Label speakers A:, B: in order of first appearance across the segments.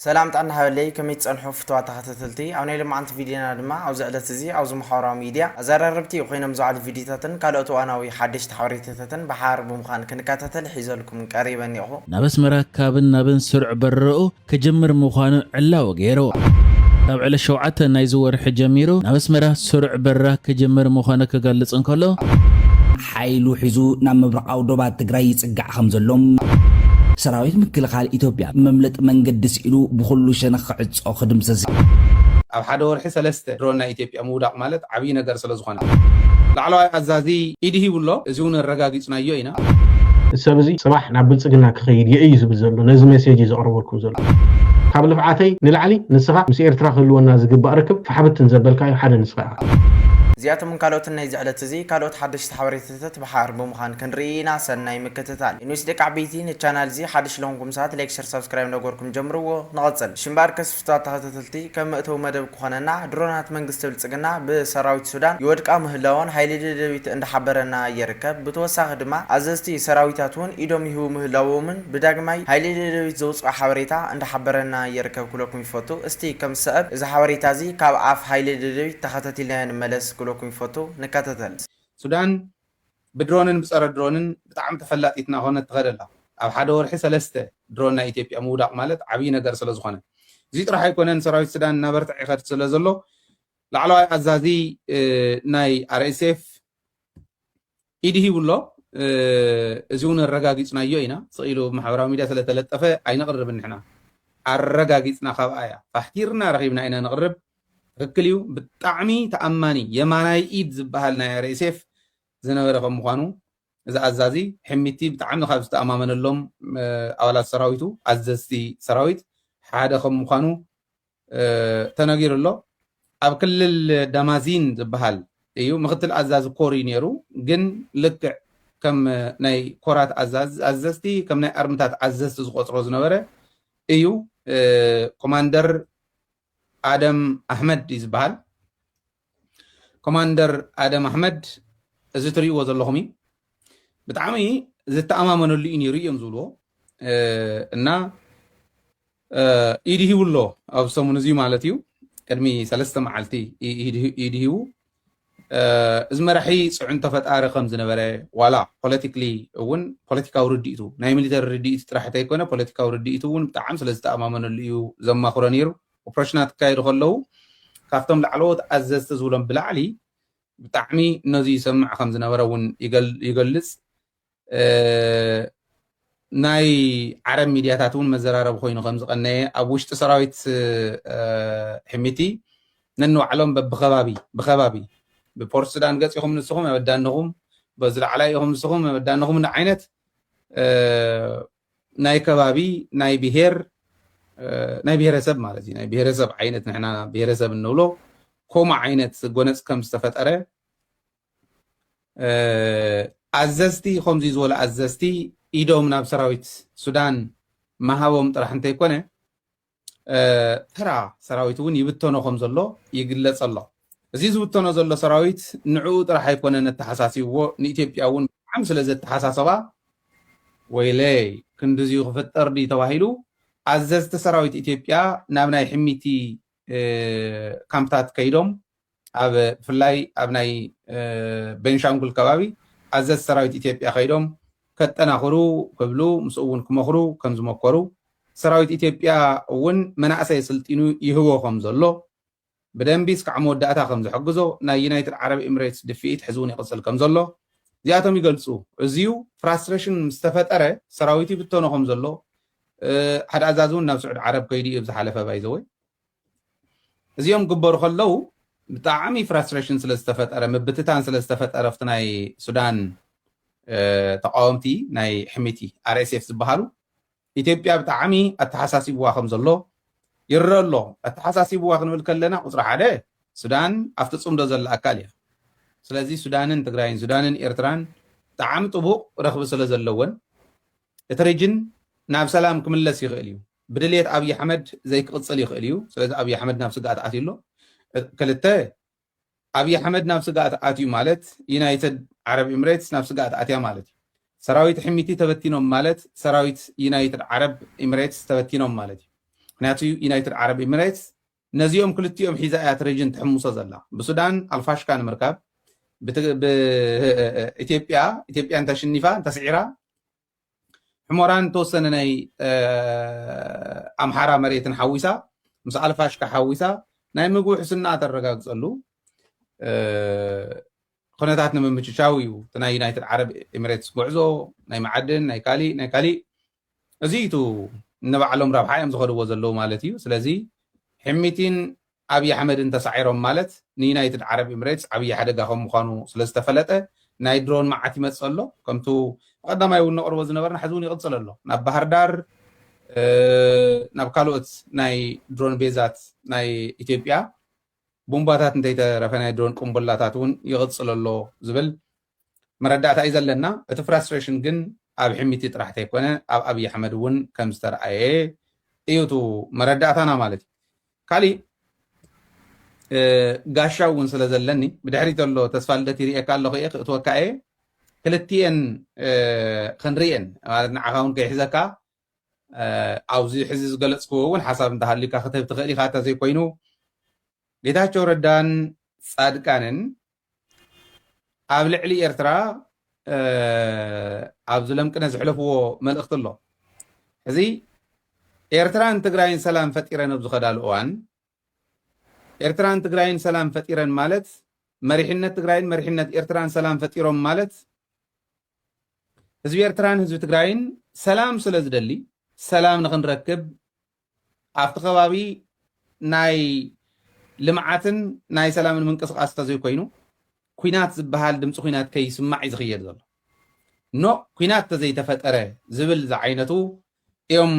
A: ሰላም ጥዕና ሃበለይ ከመይ ትጸንሑ ፍቱዋት ተኸታተልቲ ኣብ ናይ ሎማዓንቲ ቪድዮና ድማ ኣብዚ ዕለት እዚ ኣብዚ ማሕበራዊ ሚድያ ኣዛራረብቲ ኮይኖም ዝውዓሉ ቪድዮታትን ካልኦት እዋናዊ ሓደሽቲ ሓበሬታታትን ብሓባር ብምዃን ክንካታተል ሒዘልኩም ቀሪበ እኔኹ። ናብ ኣስመራ ካብን
B: ናብን ስሩዕ በረራኡ ክጅምር ምዃኑ ዕላዊ ገይሩ። ካብ ዕለት ሸውዓተ ናይዚ ወርሒ ጀሚሩ ናብ ኣስመራ ስሩዕ በረራ ክጅምር ምዃኑ ክገልጽ እንከሎ፣ ሓይሉ
C: ሒዙ ናብ ምብራቓዊ ዶባት ትግራይ ይፅጋዕ ከምዘሎ፣ ሰራዊት ምክልኻል ኢትዮጵያ መምለጢ መንገዲ ስኢኑ ብኹሉ ሸነኽ ክዕፆ ክድምሰስ፣ ኣብ ሓደ
D: ወርሒ ሰለስተ ድሮን ናይ ኢትዮጵያ ምውዳቕ ማለት ዓብዪ ነገር ስለዝኾነ ላዕለዋይ ኣዛዚ ኢድ ሂቡ ኣሎ፣ እዚ እውን ኣረጋጊፅናዮ ኢና። እዚ ሰብ እዚ
E: ፅባሕ ናብ ብልፅግና ክኸይድ እየ እዩ ዝብል ዘሎ ነዚ ሜሴጅ እዩ ዘቕርበልኩም ዘሎ። ካብ ልፍዓተይ ንላዕሊ ንስኻ ምስ ኤርትራ ክህልወና ዝግባእ ርክብ ፋሕብትን ዘበልካዮ ሓደ ንስኻ ኢኻ። እዚኣቶምን
A: ካልኦትን ናይዚ ዕለት እዚ ካልኦት ሓደሽቲ ሓበሬታታት ብሓር ብምዃን ክንርኢ ኢና ሰናይ ምክትታል። ዩኒስ ደቂ ዓበይቲ ንቻናል እዚ ሓድሽ ለኹንኩም ሰባት ላይክ ሸር ሳብስክራይብ እንዳገበርኩም ጀምርዎ ንቐጽል እሺ እምበኣር ከስ ፍትዋት ተኸታተልቲ ከም መእተዊ መደብ ክኾነና ድሮናት መንግስቲ ብልጽግና ብሰራዊት ሱዳን ይወድቃ ምህላወን ሓይሊ ደደቢት እንዳሓበረና ይርከብ ብተወሳኺ ድማ ኣዘዝቲ ሰራዊታት ውን ኢዶም ይህቡ ምህላዎምን ብዳግማይ ሓይሊ ደደቢት ዘውጽኦ ሓበሬታ እንዳሓበረና ይርከብ ክብለኩም ይፈቱ እስቲ ከም ዝሰእብ እዚ ሓበሬታ እዚ ካብ ኣፍ ሓይሊ ደደቢት ተኸታቲልናዮ ንመለስ። ክብለኩም ይፈቱ ንካታተል። ሱዳን
D: ብድሮንን ብጸረ ድሮንን ብጣዕሚ ተፈላጢት ናኾነት ትኸድ ኣላ። ኣብ ሓደ ወርሒ ሰለስተ ድሮን ናይ ኢትዮጵያ ምውዳቕ ማለት ዓብይ ነገር ስለዝኾነ። እዙይ ጥራሕ ኣይኮነን ሰራዊት ሱዳን እናበርትዕ ይኸድ ስለዘሎ ላዕለዋይ ኣዛዚ ናይ RSF፣ ኢድ ሂቡ ኣሎ። እዚ እውን ኣረጋጊፅናዮ ኢና። ስቕ ኢሉ ኣብ ማሕበራዊ ሚድያ ስለተለጠፈ ኣይነቕርብን ንሕና። ኣረጋጊፅና ካብኣ እያ። ፋሕቲርና ረኺብና ኢና ነቕርብ። ትኽክል እዩ። ብጣዕሚ ተኣማኒ የማናይ ኢድ ዝብሃል ናይ ኣርኤስኤፍ ዝነበረ ከም ምዃኑ እዚ ኣዛዚ ሒሚቲ ብጣዕሚ ካብ ዝተኣማመነሎም ኣባላት ሰራዊቱ፣ ኣዘዝቲ ሰራዊት፣ ሓደ ከም ምዃኑ ተነጊሩ ኣሎ። ኣብ ክልል ዳማዚን ዝብሃል እዩ ምክትል ኣዛዚ ኮር እዩ ነይሩ ግን ልክዕ ከም ናይ ኮራት ኣዘዝቲ ከም ናይ ኣርምታት ኣዘዝቲ ዝቆፅሮ ዝነበረ እዩ ኮማንደር ኣደም ኣሕመድ እዩ ዝበሃል ኮማንደር ኣደም ኣሕመድ እዚ ትሪእዎ ዘለኹም እዩ ብጣዕሚ ዝተኣማመነሉ እዩ ነይሩ እዮም ዝብልዎ እና ኢድ ሂቡ ኣሎ ኣብ ሰሙን እዚ ማለት እዩ ቅድሚ ሰለስተ መዓልቲ ኢድ ሂቡ እዚ መራሒ ፅዕንቶ ፈጣሪ ከም ዝነበረ ዋላ ፖለቲክሊ እውን ፖለቲካዊ ርድኢቱ ናይ ሚሊተሪ ርድኢቱ ጥራሕ እንተይኮነ ፖለቲካዊ ርድኢቱ እውን ብጣዕሚ ስለ ዝተኣማመነሉ እዩ ዘማኽሮ ነይሩ ኦፕረሽናት ክካየዱ ከለዉ ካብቶም ላዕለዎት ኣዘዝቲ ዝብሎም ብላዕሊ ብጣዕሚ ነዚ ይሰምዕ ከም ዝነበረ እውን ይገልጽ ናይ ዓረብ ሚድያታት እውን መዘራረቢ ኮይኑ ከም ዝቐነየ ኣብ ውሽጢ ሰራዊት ሕሚቲ ነንባዕሎም በብከባቢ ብከባቢ ብፖርት ሱዳን ገፅ ኢኹም ንስኹም ኣበዳንኹም በዚ ላዕላይ ኢኹም ንስኹም ኣበዳንኹም ዓይነት ናይ ከባቢ ናይ ብሄር ናይ ብሄረሰብ ማለት እዩ ናይ ብሄረሰብ ዓይነት ንሕና ብሄረሰብ እንብሎ ከምኡ ዓይነት ጎነፅ ከም ዝተፈጠረ ኣዘዝቲ ከምዚ ዝበሉ ኣዘዝቲ ኢዶም ናብ ሰራዊት ሱዳን ምሃቦም ጥራሕ እንተይኮነ ተራ ሰራዊት እውን ይብተኖ ከም ዘሎ ይግለፅ ኣሎ። እዚ ዝብተኖ ዘሎ ሰራዊት ንዕኡ ጥራሕ ኣይኮነን ኣተሓሳሲብዎ ንኢትዮጵያ እውን ብጣዕሚ ስለ ዘተሓሳሰባ ወይለይ ክንድዚ ክፍጠር ድዩ ተባሂሉ ኣዘዝቲ ሰራዊት ኢትዮጵያ ናብ ናይ ሕሚቲ ካምፕታት ከይዶም ኣብ ብፍላይ ኣብ ናይ ቤንሻንጉል ከባቢ ኣዘዝቲ ሰራዊት ኢትዮጵያ ከይዶም ከጠናኽሩ ክብሉ ምስኡ እውን ክመኽሩ ከም ዝመኮሩ ሰራዊት ኢትዮጵያ እውን መናእሰይ ኣስልጢኑ ይህቦ ከም ዘሎ ብደንቢ እስካዕ መወዳእታ ከም ዝሕግዞ ናይ ዩናይትድ ዓረብ ኤምሬትስ ድፍኢት ሕዚ እውን ይቕፅል ከም ዘሎ እዚኣቶም ይገልፁ። እዚዩ ፍራስትሬሽን ምስ ተፈጠረ ሰራዊት ይብተኖ ከም ዘሎ ሓደ ኣዛዚ እውን ናብ ስዑድ ዓረብ ከይዱ እዩ ኣብ ዝሓለፈ ባይዘወይ እዚኦም ክግበሩ ከለው ብጣዕሚ ፍራስትሬሽን ስለ ዝተፈጠረ ምብትታን ስለ ዝተፈጠረ ኣብቲ ናይ ሱዳን ተቃወምቲ ናይ ሕሚቲ ኣርኤስኤፍ ዝበሃሉ ኢትዮጵያ ብጣዕሚ ኣተሓሳሲብዋ ከም ዘሎ ይረአ ኣሎ። ኣተሓሳሲብዋ ክንብል ከለና ቁፅሪ ሓደ ሱዳን ኣብቲ ፅምዶ ዘላ ኣካል እያ። ስለዚ ሱዳንን ትግራይን ሱዳንን ኤርትራን ብጣዕሚ ጥቡቕ ረኽቢ ስለ ዘለወን እቲ ሪጅን ናብ ሰላም ክምለስ ይኽእል እዩ። ብድልየት ኣብይ ኣሕመድ ዘይክቕፅል ይኽእል እዩ። ስለዚ ኣብይ ኣሕመድ ናብ ስግኣት ኣትዩ ኣሎ። ክልተ፣ ኣብይ ኣሕመድ ናብ ስግኣት ኣትዩ ማለት ዩናይትድ ዓረብ ኢምሬትስ ናብ ስግኣት ኣትያ ማለት እዩ። ሰራዊት ሕሚቲ ተበቲኖም ማለት ሰራዊት ዩናይትድ ዓረብ ኢምሬትስ ተበቲኖም ማለት እዩ። ምክንያቱ ዩናይትድ ዓረብ ኢምሬትስ ነዚኦም ክልቲኦም ሒዛ እያ እቲ ሬጅን ትሕምሶ ዘላ። ብሱዳን ኣልፋሽካ ንምርካብ ብኢትዮጵያ ኢትዮጵያ እንተሽኒፋ እንተስዒራ ሕሞራን ተወሰነ ናይ ኣምሓራ መሬትን ሓዊሳ ምስ ኣልፋሽካ ሓዊሳ ናይ ምግቢ ውሕስና ተረጋግፀሉ ኩነታት ንምምችቻው እዩ እቲ ናይ ዩናይትድ ዓረብ ኤሚሬትስ ጉዕዞ ናይ መዓድን ናይ ካሊእ ናይ ካሊእ እዚ እዩ ንባዕሎም ረብሓ እዮም ዝኸድዎ ዘለዉ ማለት እዩ ስለዚ ሕሚቲን ኣብይ ኣሕመድን ተሳዒሮም ማለት ንዩናይትድ ዓረብ ኤምሬትስ ዓብይ ሓደጋ ከም ምዃኑ ስለ ዝተፈለጠ ናይ ድሮን መዓት ይመፅእ ኣሎ ከምቱ ብቀዳማይ እውን ነቅርቦ ዝነበርና ሕዚ እውን ይቅፅል ኣሎ ናብ ባህርዳር ናብ ካልኦት ናይ ድሮን ቤዛት ናይ ኢትዮጵያ ቡምባታት እንተይተረፈ ናይ ድሮን ቁምቡላታት እውን ይቅፅል ኣሎ ዝብል መረዳእታ እዩ ዘለና እቲ ፍራስትሬሽን ግን ኣብ ሒሚቲ ጥራሕ ተይኮነ ኣብ ኣብይ ኣሕመድ እውን ከም ዝተርኣየ እዩ እቱ መረዳእታና ማለት እዩ ካሊእ ጋሻ እውን ስለ ዘለኒ ብድሕሪ ዘሎ ተስፋ ልደት ይርእየካ ኣለኹ እየ ክእትወካ እየ ክልትኤን ክንርእየን ማለት ንዓኻ እውን ከይሕዘካ ኣብዚ ሕዚ ዝገለፅክዎ እውን ሓሳብ እንተሃልዩካ ክትህብ ትኽእል ኢኻ እተዘይኮይኑ ጌታቸው ረዳን ፃድቃንን ኣብ ልዕሊ ኤርትራ ኣብዚ ለምቅነ ዝሕለፍዎ መልእኽቲ ኣሎ ሕዚ ኤርትራን ትግራይን ሰላም ፈጢረን ኣብ ዝኸዳሉ እዋን ኤርትራን ትግራይን ሰላም ፈጢረን ማለት መሪሕነት ትግራይን መሪሕነት ኤርትራን ሰላም ፈጢሮም ማለት ህዝቢ ኤርትራን ህዝቢ ትግራይን ሰላም ስለ ዝደሊ ሰላም ንክንረክብ ኣብቲ ከባቢ ናይ ልምዓትን ናይ ሰላምን ምንቅስቓስ እንተዘይኮይኑ ኩናት ዝበሃል ድምፂ ኩናት ከይስማዕ እዩ ዝኽየድ ዘሎ ኖ ኩናት ተዘይተፈጠረ ዝብል ዝዓይነቱ እዮም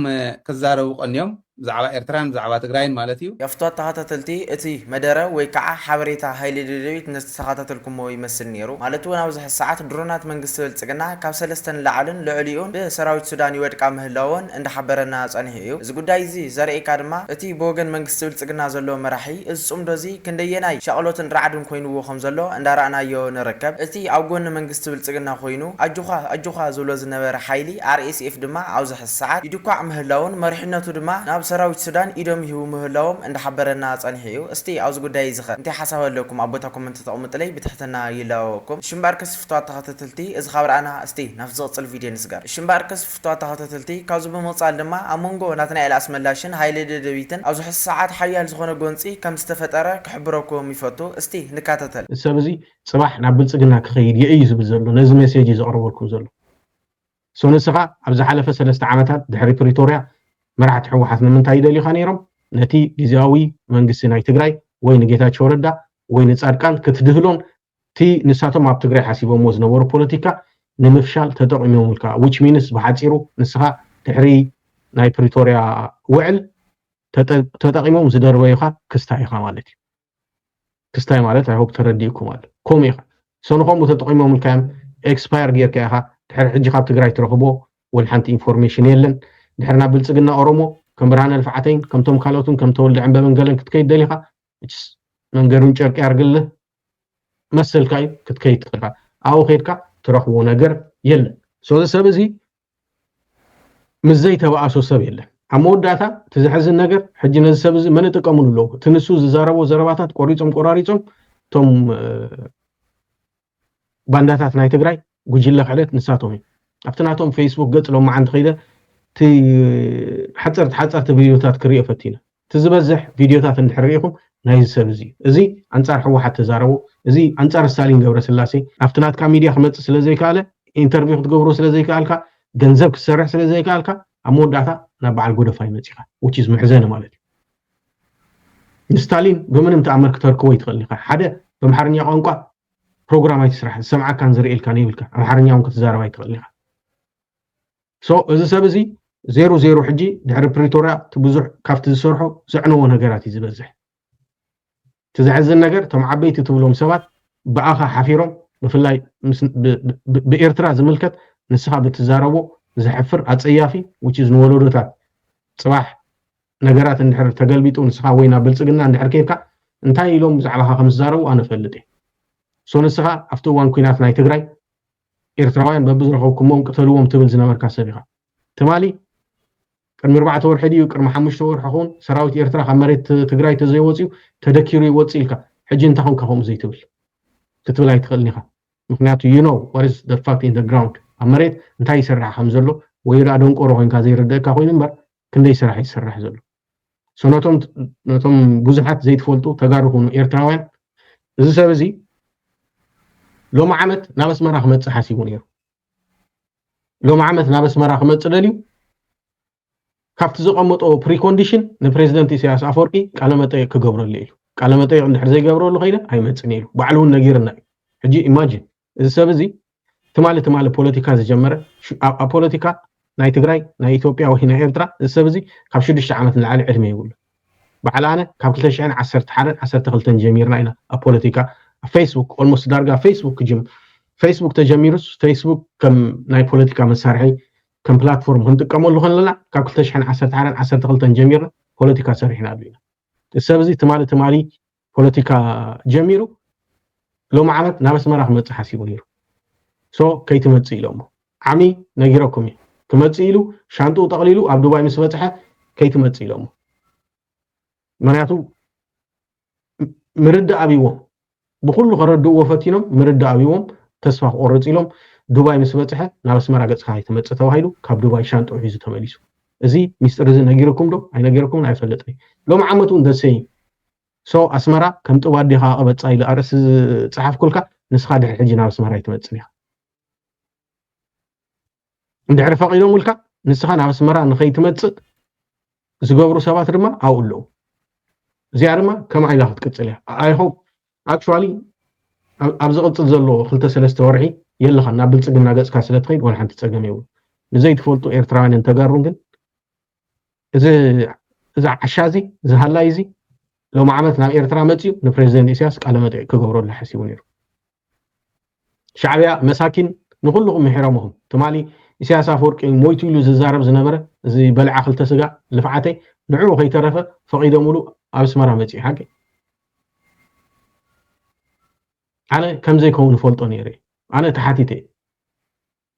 D: ክዛረቡ ቀንዮም ብዛዕባ ኤርትራን ብዛዕባ ትግራይን ማለት እዩ የፍቷት ተኻታተልቲ
A: እቲ መደረ ወይ ካዓ ሓበሬታ ሃይሊ ደደቢት ንዝተኻታተልኩሞ ይመስል ነይሩ ማለት እውን ኣብዚ ሕዚ ሰዓት ድሮናት መንግስቲ ብልፅግና ካብ ሰለስተ ንላዕልን ልዕሊኡን ብሰራዊት ሱዳን ይወድቃ ምህላወን እንዳሓበረና ፀኒሑ እዩ። እዚ ጉዳይ እዚ ዘርእየካ ድማ እቲ ብወገን መንግስቲ ብልጽግና ዘሎ መራሒ እዚ ጽምዶ እዚ ክንደየናይ ሻቕሎትን ራዕድን ኮይንዎ ከም ዘሎ እንዳራእናዮ ንርከብ። እቲ ኣብ ጎኒ መንግስቲ ብልጽግና ኮይኑ ኣጆዃ ኣጆዃ ዝብሎ ዝነበረ ሓይሊ RSF ድማ ኣብዚ ሕዚ ሰዓት ይድኳዕ ምህላዉን መሪሕነቱ ድማ ናብ ሰራዊት ሱዳን ኢዶም ይህቡ ምህላዎም እንዳሓበረና ጸኒሑ እዩ። እስቲ ኣብዚ ጉዳይ እዚ ከ እንታይ ሓሳብ ኣለኩም ኣብ ቦታ ኮመንት ተቕምጡለይ ብትሕትና ይላበወኩም። እሺ እምበኣርከስ ፍቱዋት ተኸታተልቲ እዚ ካብ ራእና እስቲ ናብቲ ዝቕጽል ቪድዮ ንስገር። እሺ እምበኣርከስ ፍቱዋት ተኸታተልቲ፣ ካብዚ ብምቕጻል ድማ ኣብ መንጎ ናትናኤል ኣስመላሽን ሃይለ ደደቢትን ኣብዚ ሕዚ ሰዓት ሓያል ዝኾነ ጎንጺ ከም ዝተፈጠረ ክሕብረኩም ይፈቱ። እስቲ ንካታተል። እዚ ሰብ እዚ
E: ጽባሕ ናብ ብልጽግና ክኸይድ እየ እዩ ዝብል ዘሎ ነዚ ሜሴጅ እዩ ዘቕርበልኩም ዘሎ so ንስኻ ኣብ ዝሓለፈ ሰለስተ ዓመታት ድሕሪ ፕሪቶርያ መራሕቲ ሕወሓት ንምንታይ ይደልዩኻ ነይሮም ነቲ ግዝያዊ መንግስቲ ናይ ትግራይ ወይ ንጌታቸው ረዳ ወይ ንጻድቃን ክትድህሎን እቲ ንሳቶም ኣብ ትግራይ ሓሲቦምዎ ዝነበሩ ፖለቲካ ንምፍሻል ተጠቒሞምልካ which means ብሓጺሩ ንስኻ ድሕሪ ናይ ፕሪቶርያ ውዕል ተጠቒሞም ዝደርበዩኻ ክስታይ ኢኻ ማለት እዩ። ክስታይ ማለት i hope ተረዲኡኩም ኣሎ። ከምኡ ኢኻ ሰንኾም ተጠቒሞምልካዮም ኤክስፓየር ጌርካ ኢኻ ድሕሪ ሕጂ ካብ ትግራይ ትረኽቦ ወልሓንቲ ኢንፎርሜሽን የለን። ድሕሪ ናብ ብልጽግና ኦሮሞ ከም ብርሃነ ልፍዓተይን ከምቶም ካልኦትን ከም ተወልደ ዕንበበን ገለን ክትከይድ ደሊኻ which is መንገዱን ጨርቂ ያርግልህ መሰልካ እዩ ክትከይድ ትኽእል ኢኻ ኣብኡ ከይድካ ትረኽቦ ነገር የለን ሶዚ ሰብ እዚ ምስ ዘይተባእሶ ሰብ የለን ኣብ መወዳእታ እቲ ዘሕዝን ነገር ሕጂ ነዚ ሰብ እዚ መን ይጥቀምሉ ኣለዉ እቲ ንሱ ዝዛረቦ ዘረባታት ቆሪፆም ቆራሪፆም እቶም ባንዳታት ናይ ትግራይ ጉጅለ ክሕደት ንሳቶም እዮም ኣብቲ ናቶም ፈይስቡክ ገጽ ሎማዓንቲ ከይደ እቲ ሓጸርቲ ሓጸርቲ ቪድዮታት ክሪኦ ፈቲነ እቲ ዝበዝሕ ቪድዮታት እንድሕር ሪኢኹም ናይዚ ሰብ እዚ እዩ እዚ ኣንጻር ሕወሓት ተዛረቦ እዚ ኣንጻር ስታሊን ገብረስላሴ ኣብቲ ናትካ ሚድያ ክመጽእ ስለ ዘይከኣለ ኢንተርቪው ክትገብሮ ስለ ዘይከኣልካ ገንዘብ ክትሰርሕ ስለ ዘይከኣልካ ኣብ መወዳእታ ናብ በዓል ጎደፋይ መጺኻ which is መሕዘኒ ማለት እዩ ንስታሊን ብምንም ተኣምር ክተርክቦ ይትኽእል ኢኻ ሓደ በምሓርኛ ቋንቋ ፕሮግራም ኣይትስራሕ ዝሰምዓካን ዝርእየልካን የብልካ ኣምሓርኛ ውን ክትዛረብ ኣይትኽእልን ኢኻ ሶ እዚ ሰብ እዚ ዜሩ ዜሩ ሕጂ ድሕሪ ፕሪቶርያ እቲ ብዙሕ ካብቲ ዝሰርሖ ዘዕነዎ ነገራት እዩ ዝበዝሕ እቲ ዘሕዝን ነገር እቶም ዓበይቲ ትብሎም ሰባት ብኣኻ ሓፊሮም ብፍላይ ብኤርትራ ዝምልከት ንስኻ ብትዛረቦ ዘሕፍር ኣጸያፊ ውችዝ ንወለዶታት ጽባሕ ነገራት እንድሕር ተገልቢጡ ንስኻ ወይ ናብ ብልጽግና እንድሕር ኬድካ እንታይ ኢሎም ብዛዕባኻ ከም ዝዛረቡ ኣነ እፈልጥ እየ ሶ ንስኻ ኣብቲ እዋን ኩናት ናይ ትግራይ ኤርትራውያን በብዝረኸብኩሞም ቅተልዎም ትብል ዝነበርካ ሰብ ኢኻ ትማሊ ቅድሚ ኣርባዕተ ወርሒ ድዩ ቅድሚ ሓሙሽተ ወርሒ ኹን ሰራዊት ኤርትራ ካብ መሬት ትግራይ ተዘይወፅዩ ተደኪሩ ይወፅ ኢልካ ሕጂ እንታይ ኹንካ ከምኡ ዘይትብል ክትብል ኣይትኽእልን ኢኻ ምክንያቱ ዩ ኖ ዋት ኢዝ ፋክት ኢን ግራውንድ ኣብ መሬት እንታይ ይስራሕ ከም ዘሎ ወይ ደኣ ደንቆሮ ኮይንካ ዘይርድእካ ኮይኑ እምበር ክንደይ ስራሕ ይስራሕ ዘሎ ሰነቶም ነቶም ብዙሓት ዘይትፈልጡ ተጋሩ ኩኑ ኤርትራውያን እዚ ሰብ እዚ ሎሚ ዓመት ናብ ኣስመራ ክመፅእ ሓሲቡ ነይሩ ሎሚ ዓመት ናብ ኣስመራ ክመፅእ ደልዩ ካብቲ ዘቐመጦ ፕሪኮንዲሽን ንፕሬዚደንት ኢሳያስ ኣፈወርቂ ቃለመጠየቅ ክገብረሉ ኢሉ ቃለመጠየቅ እንድሕር ዘይገብረሉ ከይነ ኣይመፅን ኢሉ ባዕሉ እውን ነጊርና እዩ ሕጂ ኢማጂን እዚ ሰብ እዚ ትማሊ ትማሊ ፖለቲካ ዝጀመረ ኣብ ፖለቲካ ናይ ትግራይ ናይ ኢትዮጵያ ወይ ናይ ኤርትራ እዚ ሰብ እዚ ካብ ሽዱሽተ ዓመት ንላዕሊ ዕድመ ይብሉ በዓል ኣነ ካብ 211 12 ጀሚርና ኢና ኣብ ፖለቲካ ኣብ ፌስቡክ ኦልሞስት ዳርጋ ፌስቡክ ክጅም ፌስቡክ ተጀሚሩስ ፌስቡክ ከም ናይ ፖለቲካ መሳርሒ ከም ፕላትፎርም ክንጥቀመሉ ከለና ካብ 211 12 ጀሚርና ፖለቲካ ሰሪሕና ኣሉ ኢና እዚ ሰብ እዚ ትማሊ ትማሊ ፖለቲካ ጀሚሩ ሎሚ ዓመት ናብ ኣስመራ ክመጽእ ሓሲቡ ነይሩ ሶ ከይትመጽእ ኢሎሞ ዓሚ ነጊረኩም እዩ ክመጽእ ኢሉ ሻንጥኡ ጠቕሊሉ ኣብ ዱባይ ምስ በጽሐ ከይትመጽእ ኢሎሞ ምክንያቱ ምርዳእ ኣብዎም ብኩሉ ከረድእዎ ፈቲኖም ምርዳእ ኣብዎም ተስፋ ክቆርፅ ኢሎም ዱባይ ምስ በፅሐ ናብ ኣስመራ ገፅካ ኣይትመፅእ ተባሂሉ ካብ ዱባይ ሻንጥዑ ሒዙ ተመሊሱ እዚ ሚስጥር እዚ ነጊርኩም ዶ ኣይነገርኩምን ኣይፈልጥን ሎሚ ዓመት እውን ደሰይ so ኣስመራ ከም ጥብ ኣዴኻ ቅበጻ ኢለ ኣርእስቲ ዝጸሓፍኩልካ ንስኻ ድሕሪ ሕጂ ናብ ኣስመራ ኣይትመጽን ኢኻ እንድሕሪ ፈቒዶምልካ ንስኻ ናብ ኣስመራ ንኸይትመጽእ ዝገብሩ ሰባት ድማ ኣብኡ ኣለዉ እዚኣ ድማ ከም ዓይላ ክትቅፅል እያ ኣይሆፕ ኣክቹዋሊ ኣብ ዝቕፅል ዘሎ ክልተ ሰለስተ ወርሒ የለኻ ናብ ብልፅግና ገፅካ ስለ ትኸይድ ወላ ሓንቲ ፀገም የብሉ ንዘይትፈልጡ ኤርትራውያንን ተጋሩን ግን እዚ እዚ ዓሻ እዚ እዚ ሃላይ እዚ ሎሚ ዓመት ናብ ኤርትራ መፅኡ ንፕሬዚደንት ኢሳያስ ቃለ መጠይቅ ክገብረሉ ሓሲቡ ነይሩ ሻዕብያ መሳኪን ንኩልኩም ምሒሮምኹም ትማሊ ኢሳያስ ኣፈወርቂ ሞይቱ ኢሉ ዝዛረብ ዝነበረ እዚ በልዓ ክልተ ስጋ ልፍዓተይ ንዕኡ ከይተረፈ ፈቂዶምሉ ኣብ ኣስመራ መፅኡ ሓቂ ኣነ ከምዘይከውን ፈልጦ ነይረ ኣነ ተሓቲተ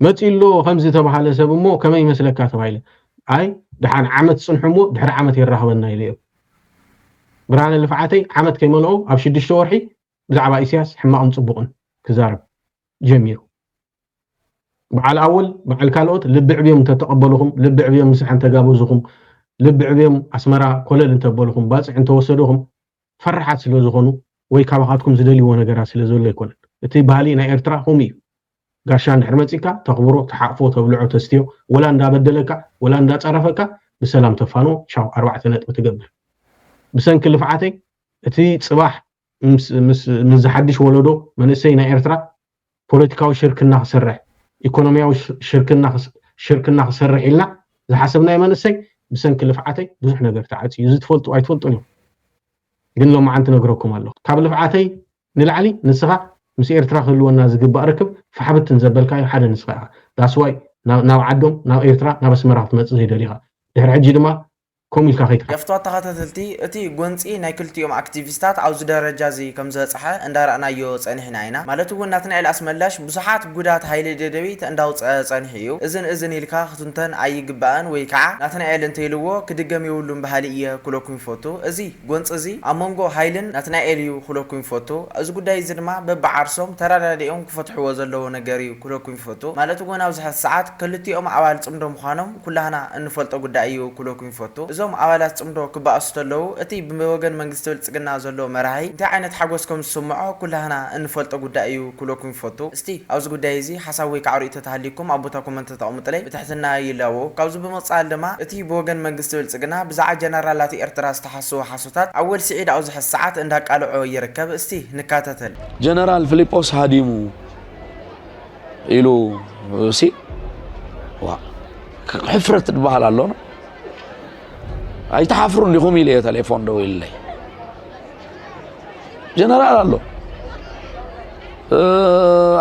E: መጺኡ'ሎ ከምዚ ተባህለ ሰብ እሞ ከመይ ይመስለካ ተባሂለ ኣይ ደሓን ዓመት ጽንሑ እሞ ድሕሪ ዓመት የራኽበና ኢለ እዮ ብርሃነ ልፍዓተይ ዓመት ከይመልኦ ኣብ ሽዱሽተ ወርሒ ብዛዕባ ኢስያስ ሕማቕን ጽቡቕን ክዛረብ ጀሚሩ በዓል ኣወል በዓል ካልኦት ልቢ ዕብዮም እንተተቐበልኹም ልቢ ዕብዮም ምሳሕ እንተጋበዝኹም ልቢ ዕብዮም ኣስመራ ኮለል እንተበልኹም ባጽዕ እንተወሰድኹም ፈራሓት ስለ ዝኮኑ ወይ ካባካትኩም ዝደልይዎ ነገራት ስለ ዘሎ ኣይኮነን እቲ ባህሊ ናይ ኤርትራ ኮምኡ እዩ ጋሻ እንድሕር መጺካ ተክብሮ ትሓቅፎ ተብልዖ ተስትዮ ወላ እንዳ በደለካ ወላ እንዳ ጸረፈካ ብሰላም ተፋንዎ ቻው ኣርባዕተ ነጥቢ ትገብር ብሰንኪ ልፍዓተይ እቲ ጽባሕ ምስ ምስ ዝሓድሽ ወለዶ መንእሰይ ናይ ኤርትራ ፖለቲካዊ ሽርክና ክስርሕ፣ ኢኮኖሚያዊ ሽርክና ሽርክና ክሰርሕ ኢልና ዝሓሰብናዮ መንእሰይ ብሰንኪ ልፍዓተይ ብዙሕ ነገር ተዓጽዩ እዚ ትፈልጡ ኣይትፈልጡን ኢኹም ግን ሎማዓንቲ ነግረኩም ኣለኹ ካብ ልፍዓተይ ንላዕሊ ንስኻ ምስ ኤርትራ ክህልወና ዝግባእ ርክብ ፋሕብትን ዘበልካዮ ሓደ ንስኻ ኢኻ ዳስዋይ ናብ ዓዶም ናብ ኤርትራ ናብ ኣስመራ ክትመጽእ ዘይደሊኻ ድሕሪ ሕጂ ድማ ከምኡ ኢልካ ከይትሓስብ። ገፍቷት ተኸታተልቲ፣
A: እቲ ጎንጺ ናይ ክልቲኦም ኣክቲቪስታት ኣብዚ ደረጃ'ዚ ከም ዝበጽሐ እንዳረኣናዮ ጸኒሕና ኢና። ማለት'ውን ናትናኤል ኣስመላሽ ብዙሓት ጉዳት ሃይለ ደደቢት እንዳውጸኣ ጸኒሑ እዩ። እዝን እዝን ኢልካ ክትንተን ኣይግባእን ወይ ከኣ ናትናኤል እንተኢልዎ ክድገም የብሉን በሃሊ እየ ክብለኩም ይፈቱ። እዚ ጎንጺ'ዚ ኣብ መንጎ ሃይልን ናትናኤል እዩ ክብለኩም ይፈቱ። እዚ ጉዳይ'ዚ ድማ በብዓርሶም ተረዳዲኦም ክፈትሕዎ ዘለዎ ነገር እዩ ክብለኩም ይፈቱ። ማለት'ውን ኣብዚ ሕዚ ሰዓት ከልቲኦም ኣባል ጽምዶ ምዃኖም ኩላህና እንፈልጦ ጉዳይ እዩ ክብለኩም ይፈቱ። እዞም ኣባላት ጽምዶ ክበኣሱ ተለዉ እቲ ብወገን መንግስቲ ብልጽግና ዘሎ መራሒ እንታይ ዓይነት ሓጎስ ከም ዝስምዖ ኩላህና እንፈልጦ ጉዳይ እዩ ክብለኩም ይፈቱ። እስቲ ኣብዚ ጉዳይ እዚ ሓሳብ ወይ ካዓ ርእይቶ ተሃልዩኩም ኣብ ቦታ ኮመንት ተተቐምጡለይ ብትሕትና ይላበው። ካብዚ ብምቕጻል ድማ እቲ ብወገን መንግስቲ ብልጽግና ብዛዓ ጀነራላት ኤርትራ ዝተሓስዉ ሓሶታት ኣወል ሲዒድ ኣብዚ ሕዚ ሰዓት እንዳቃለዖ ይርከብ እስቲ ንካተተል። ጀነራል ፍሊጶስ
F: ሃዲሙ ኢሉ ሲ ዋ ሕፍረት ዝበሃል ኣሎና ኣይትሓፍሩን ዲኹም ኢለ እየ ቴሌፎን ደው ኢለይ ጀነራል ኣሎ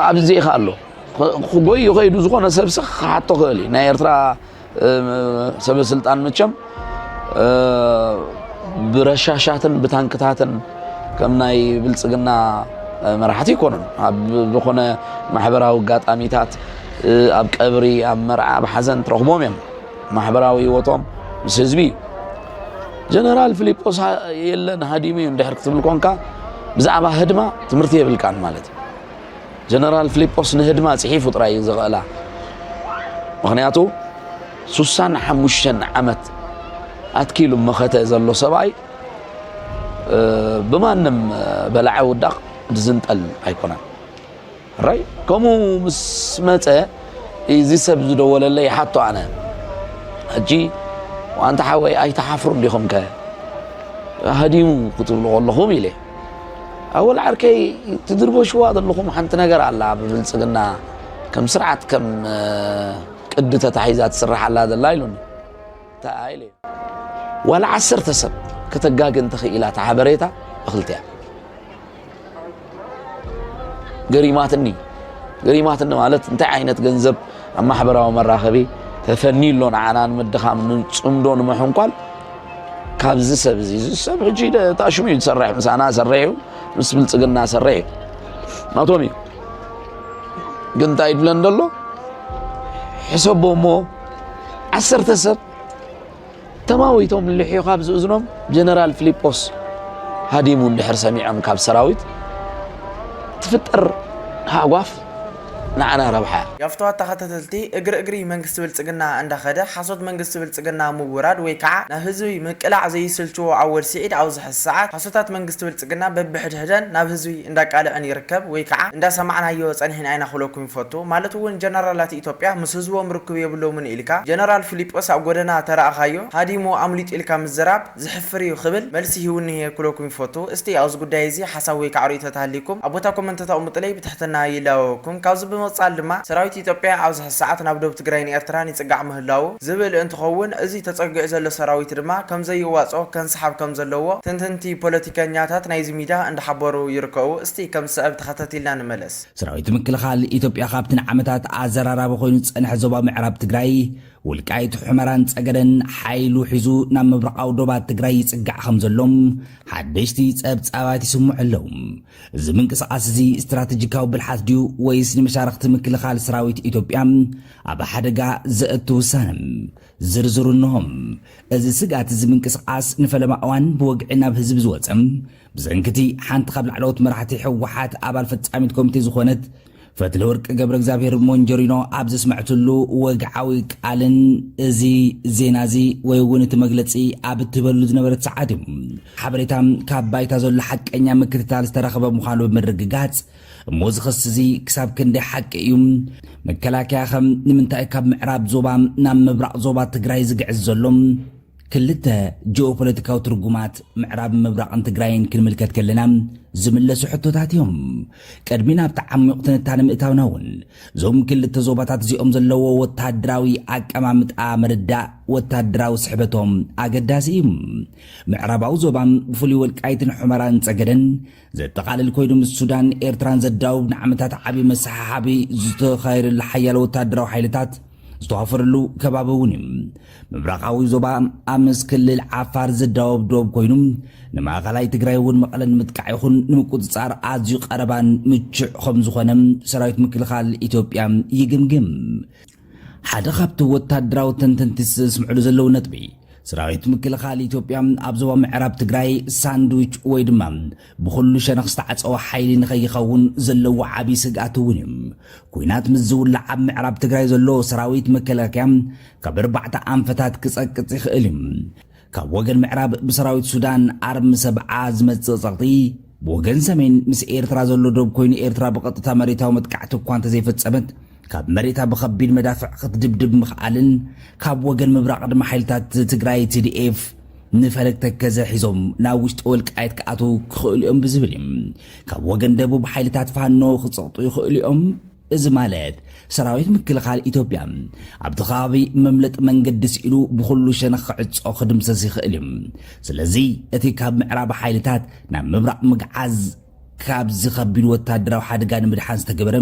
F: ኣብዚ ኢኻ ኣሎ ክጎይ ይኸይዱ ዝኾነ ሰብሲ ክሓቶ ክእል እዩ ናይ ኤርትራ ሰበስልጣን መቸም ብረሻሻትን ብታንክታትን ከም ናይ ብልፅግና መራሕቲ ይኮኑን ኣብ ዝኾነ ማሕበራዊ ኣጋጣሚታት ኣብ ቀብሪ ኣብ መርዓ ኣብ ሓዘን ትረኽቦም እዮም ማሕበራዊ ህይወቶም ምስ ህዝቢ እዩ ጀነራል ፊሊጶስ የለን ሃዲሙ እዩ እንድሕር ክትብል ኮንካ ብዛዕባ ህድማ ትምህርቲ የብልካን ማለት እዩ ጀነራል ፍሊጶስ ንህድማ ጽሒፉ ጥራይ እዩ ዝኽእላ ምኽንያቱ ሱሳን ሓሙሽተን ዓመት ኣትኪሉ መኸተ ዘሎ ሰብኣይ ብማንም በላዓ ውዳቕ ዝንጠል ኣይኮነን ራይ ከምኡ ምስ መፀ እዚ ሰብ ዝደወለለይ ሓቶ ኣነ ሕጂ ዋንታ ሓወይ ኣይተሓፍሩ እንዲኹም ከ ሃዲሙ ክትብሉ ከለኹም ኢለ ኣወል ዓርከይ ትድርበሽዋ ዘለኹም ሓንቲ ነገር ኣላ ብብልፅግና ከም ስርዓት ከም ቅዲ ተታሒዛ ትስራሕ ኣላ ዘላ ኢሉኒ ዋላ ዓሰርተ ሰብ ከተጋግ እንተኽኢላ እቲ ሓበሬታ እኽልቲያ ገሪማትኒ ገሪማትኒ ማለት እንታይ ዓይነት ገንዘብ ኣብ ማሕበራዊ መራኸቢ ተፈንዩ ኣሎ ንዓና ንምድኻም ንፅምዶ ንምሕንኳል ካብዚ ሰብ እዚ እዚ ሰብ ሕጂ ታሽሙ እዩ ዝሰርሕ ምሳና ሰርሕ እዩ ምስ ብልፅግና ሰርሕ እዩ ናቶም እዩ ግን እንታይ ይብለን ደሎ ሕሰቦ እሞ ዓሰርተ ሰብ ተማዊቶም ልሕዮ ካብ ዝእዝኖም ጀነራል ፊሊጶስ ሃዲሙ እንድሕር ሰሚዖም ካብ ሰራዊት ትፍጠር ሃጓፍ ንዓና ረብሓ። ያፍትዋ ተኸተተልቲ
A: እግሪ እግሪ መንግስቲ ብልፅግና እንዳኸደ ሓሶት መንግስቲ ብልፅግና ምውራድ ወይ ካዓ ናብ ህዝቢ ምቅላዕ ዘይስልችዎ ኣወል ሲዒድ ኣብዚ ሐዚ ሰዓት ሓሶታት መንግስቲ ብልፅግና በብሕድሕደን ናብ ህዝቢ እንዳቃልዐን ይርከብ ወይ ካዓ እንዳሰማዕናዮ ፀኒሕና ኢና ክብለኩም ይፈቱ ማለት እውን ጀነራላት ኢትዮጵያ ምስ ህዝቦም ርክብ የብሎምን ኢልካ ጀነራል ፊሊጶስ ኣብ ጎደና ተራእኻዮ ሃዲሙ ኣምሊጡ ኢልካ ምዝራብ ዝሕፍር እዩ ክብል መልሲ ሂቡኒ'የ ክብለኩም ይፈቱ። እስቲ ኣብዚ ጉዳይ እዚ ሓሳብ ወይ ከዓ ርእይቶ ተሃልዩኩም ኣብ ቦታ ኮመንት ተተቕምጡለይ ብትሕትና ይላበወኩም። ካብዚ ብምቕፃል ድማ ሰራዊት ኢትዮጵያ ኣብዚ ሕዚ ሰዓት ናብ ዶብ ትግራይን ኤርትራን ይፅጋዕ ምህላዉ ዝብል እንትኸውን እዚ ተፀጊዑ ዘሎ ሰራዊት ድማ ከምዘይዋፆ ከንሳሓብ ከምዘለዎ ተንተንቲ ፖለቲከኛታት ናይዚ ሚድያ እንዳሓበሩ ይርከቡ። እስቲ ከምዝስዕብ ተኸታቲልና ንመለስ። ሰራዊት ምክልኻል
C: ኢትዮጵያ ካብቲ ንዓመታት ኣዘራራቢ ኮይኑ ዝፀንሐ ዞባ ምዕራብ ትግራይ፣ ወልቃይት፣ ሑመራን ፀገደን ሓይሉ ሒዙ ናብ ምብራቓዊ ዶባት ትግራይ ይፅጋዕ ከም ዘሎ ሓደሽቲ ፀብፃባት ይስምዑ ኣለዉ። እዚ ምንቅስቓስ እዚ ስትራተጂካዊ ብልሓት ድዩ ወይስ ንመሻርኽቲ ምክልኻል ሰራዊት ኢትዮጵያ ኣብ ሓደጋ ዘእቱ ውሳነ? ዝርዝሩ እነሆ። እዚ ስግኣት እዚ ምንቅስቓስ ንፈለማ እዋን ብወግዒ ናብ ህዝቢ ዝወፀ ብሰንኪ እቲ ሓንቲ ካብ ላዕለዎት መራሕቲ ህወሓት ኣባል ፈፃሚት ኮሚቴ ዝኾነት ፈትለወርቅ ገብረእግዚኣብሄር ሞንጀሪኖ ኣብ ዘስመዐትሉ ወግዓዊ ቃልን እዚ ዜና እዚ ወይ እውን እቲ መግለፂ ኣብ እትህበሉ ዝነበረት ሰዓት እዩ ሓበሬታ ካብ ባይታ ዘሎ ሓቀኛ ምክትታል ዝተረኸበ ምዃኑ ብምርግጋፅ እሞ እዚ ክሲ እዚ ክሳብ ክንደይ ሓቂ እዩ መከላከያ ከም ንምንታይ ካብ ምዕራብ ዞባ ናብ ምብራቕ ዞባ ትግራይ ዝግዕዝ ዘሎ ክልተ ጂኦፖለቲካዊ ትርጉማት ምዕራብን ምብራቕን ትግራይን ክንምልከት ከለና ዝምለሱ ሕቶታት እዮም። ቅድሚ ናብቲ ዓሚቝ ትንታነ ምእታውና እውን እዞም ክልተ ዞባታት እዚኦም ዘለዎ ወተሃደራዊ ኣቀማምጣ ምርዳእ ወተሃደራዊ ስሕበቶም ኣገዳሲ እዩ። ምዕራባዊ ዞባ ብፍሉይ ወልቃይትን ሑመራን ጸገደን ዘጠቓልል ኮይኑ ምስ ሱዳን ኤርትራን ዘዳውብ ንዓመታት ዓቢ መሰሓሓቢ ዝተኻየደሉ ሓያለ ወተሃደራዊ ሓይልታት ዝተዋፈረሉ ከባቢ እውን እዩ። ምብራቓዊ ዞባ ኣብ ምስ ክልል ዓፋር ዘዳውብ ዶብ ኮይኑ ንማእኸላይ ትግራይ እውን መቐለ ንምጥቃዕ ይኹን ንምቁፅፃር ኣዝዩ ቀረባን ምቹዕ ከምዝኾነ ሰራዊት ምክልኻል ኢትዮጵያ ይግምግም። ሓደ ካብቲ ወታደራዊ ተንተንቲ ዘስምዕሉ ዘለዉ ነጥቢ ሰራዊት ምክልኻል ኢትዮጵያ ኣብ ዞባ ምዕራብ ትግራይ ሳንድዊች ወይ ድማ ብኹሉ ሸነኽ ዝተዓፀወ ሓይሊ ንኸይኸውን ዘለዎ ዓብዪ ስግኣት እውን እዩ። ኩናት ምስ ዝውላዕ ኣብ ምዕራብ ትግራይ ዘሎ ሰራዊት መከላከያ ካብ ኣርባዕተ ኣንፈታት ክፀቅፅ ይኽእል እዩ። ካብ ወገን ምዕራብ ብሰራዊት ሱዳን ኣርሚ ሰብዓ ዝመጽእ ጸቕጢ፣ ብወገን ሰሜን ምስ ኤርትራ ዘሎ ዶብ ኮይኑ ኤርትራ ብቐጥታ መሬታዊ መጥቃዕቲ እኳ እንተዘይፈጸመት ካብ መሬታ ብኸቢድ መዳፍዕ ክትድብድብ ምኽኣልን ካብ ወገን ምብራቕ ድማ ሓይልታት ትግራይ ቲዲኤፍ ንፈለግ ተከዘ ሒዞም ናብ ውሽጢ ወልቃየት ክኣትው ክኽእሉ እዮም ብዝብል እዩ ካብ ወገን ደቡብ ሓይልታት ፋኖ ክፀቕጡ ይኽእሉ እዮም እዚ ማለት ሰራዊት ምክልኻል ኢትዮጵያ ኣብቲ ከባቢ መምለጢ መንገዲ ስኢኑ ብኹሉ ሸነኽ ክዕጾ ክድምሰስ ይኽእል እዩ። ስለዚ እቲ ካብ ምዕራብ ሓይልታት ናብ ምብራቕ ምግዓዝ ካብዚ ከቢድ ወታደራዊ ሓደጋ ንምድሓን ዝተገበረ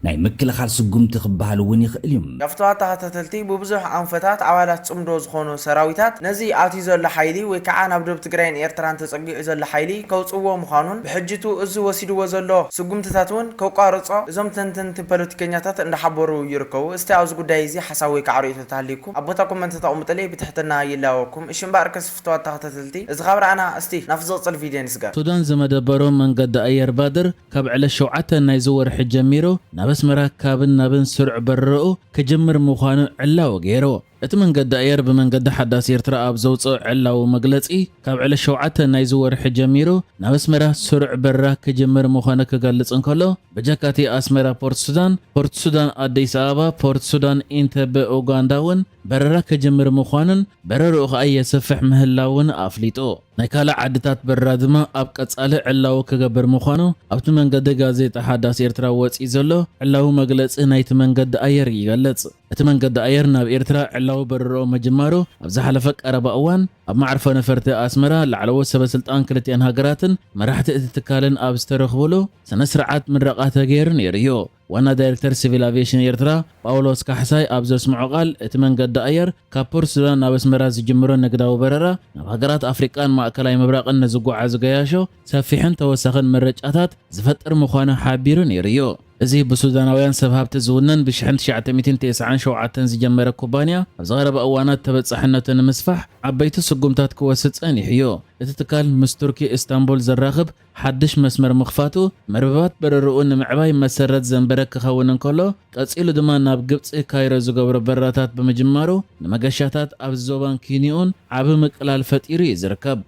C: ናይ ምክልኻል ስጉምቲ ክበሃል እውን ይኽእል እዩ። ነፍቶ ኣተኻታተልቲ
A: ብብዙሕ ኣንፈታት ኣባላት ጽምዶ ዝኾኑ ሰራዊታት ነዚ ኣትዩ ዘሎ ሓይሊ ወይ ከዓ ናብ ዶብ ትግራይን ኤርትራን ተጸጊዑ ዘሎ ሓይሊ ከውጽእዎ ምዃኑን፣ ብሕጂቱ እዚ ወሲድዎ ዘሎ ስጉምትታት ውን ከቋርጾ እዞም ተንተንቲ ፖለቲከኛታት እንዳሓበሩ ይርከቡ እስቲ ኣብዚ ጉዳይ እዚ ሓሳብ ወይ ካዓ ርእይቶ ተሃልዩኩም ኣብ ቦታ ኮመንት ተቅምጡለይ ብትሕትና ይላበወኩም እሺ እምበኣርከስ ፍትዋት ተከታተልቲ እዚ ካብ ረኣና እስቲ ናብቲ ዝቅጽል ቪድዮ ንስገር። ሱዳን ዝመደበሮም
B: መንገዲ ኣየር ባድር ካብ ዕለት ሸውዓተ ናይዚ ወርሒ ጀሚሩ ናብ ኣስመራ ካብን ናብን ስሩዕ በረራኡ ክጅምር ምዃኑ ዕላዊ ገይሩ። እቲ መንገዲ ኣየር ብመንገዲ ሓዳስ ኤርትራ ኣብ ዘውጽኦ ዕላዊ መግለጺ፣ ካብ ዕለት ሸውዓተ ናይዚ ወርሒ ጀሚሩ ናብ ኣስመራ ስሩዕ በረራ ክጅምር ምዃኑ ክገልጽ እንከሎ፣ በጃካቲ ኣስመራ ፖርት ሱዳን፣ ፖርት ሱዳን ኣዲስ ኣበባ፣ ፖርት ሱዳን ኢንተበ ኡጋንዳ እውን በረራ ክጅምር ምዃኑን በረርኡ ከኣ የስፍሕ ምህላዉን ኣፍሊጡ። ናይ ካልእ ዓድታት በረራ ድማ ኣብ ቀጻሊ ዕላዊ ክገብር ምዃኑ ኣብቲ መንገዲ ጋዜጣ ሓዳስ ኤርትራ ወጺኡ ዘሎ ዕላዊ መግለጺ ናይቲ መንገዲ ኣየር ይገልጽ። እቲ መንገዲ ኣየር ናብ ኤርትራ ዕላዊ በረራኡ ምጅማሩ ኣብ ዝሓለፈ ቀረባ እዋን ኣብ መዓርፎ ነፈርቲ ኣስመራ ላዕለዎት ሰበስልጣን ክልቲኣን ሃገራትን መራሕቲ እቲ ትካልን ኣብ ዝተረኽቡሉ ስነ ስርዓት ምረቓ ተገይሩ ነይሩ እዩ። ዋና ዳይሬክተር ሲቪል ኣቪየሽን ኤርትራ ጳውሎስ ካሕሳይ ኣብ ዘስምዖ ቃል እቲ መንገዲ ኣየር ካብ ፖርት ሱዳን ናብ ኣስመራ ዝጅምሮ ንግዳዊ በረራ ናብ ሃገራት ኣፍሪቃን ማእከላይ ምብራቕን ንዝጓዓዙ ገያሾ ሰፊሕን ተወሳኺን ምርጫታት ዝፈጥር ምዃኑ ሓቢሩ ነይሩ እዩ። እዚ ብሱዳናውያን ሰብ ሃብቲ ዝውነን ብ ሽሕን ትሽዓተ ሚእትን ተስዓን ሸውዓተን ዝጀመረ ኩባንያ፣ ኣብዚ ቀረባ እዋናት ተበጻሕነቱ ንምስፋሕ ዓበይቲ ስጉምታት ክወስድ ጸኒሑ እዩ። እቲ ትካል ምስ ቱርኪ እስታንቡል ዘራኽብ ሓድሽ መስመር ምኽፋቱ፣ መርበባት በረራኡ ንምዕባይ መሰረት ዘንበረ ክኸውን እንከሎ፣ ቀጺሉ ድማ ናብ ግብጺ ካይሮ ዝገብሮ በረራታት ብምጅማሩ ንመገሻታት ኣብዚ ዞባን ኪንዮኡን ዓቢ ምቅላል ፈጢሩ እዩ ዝርከብ።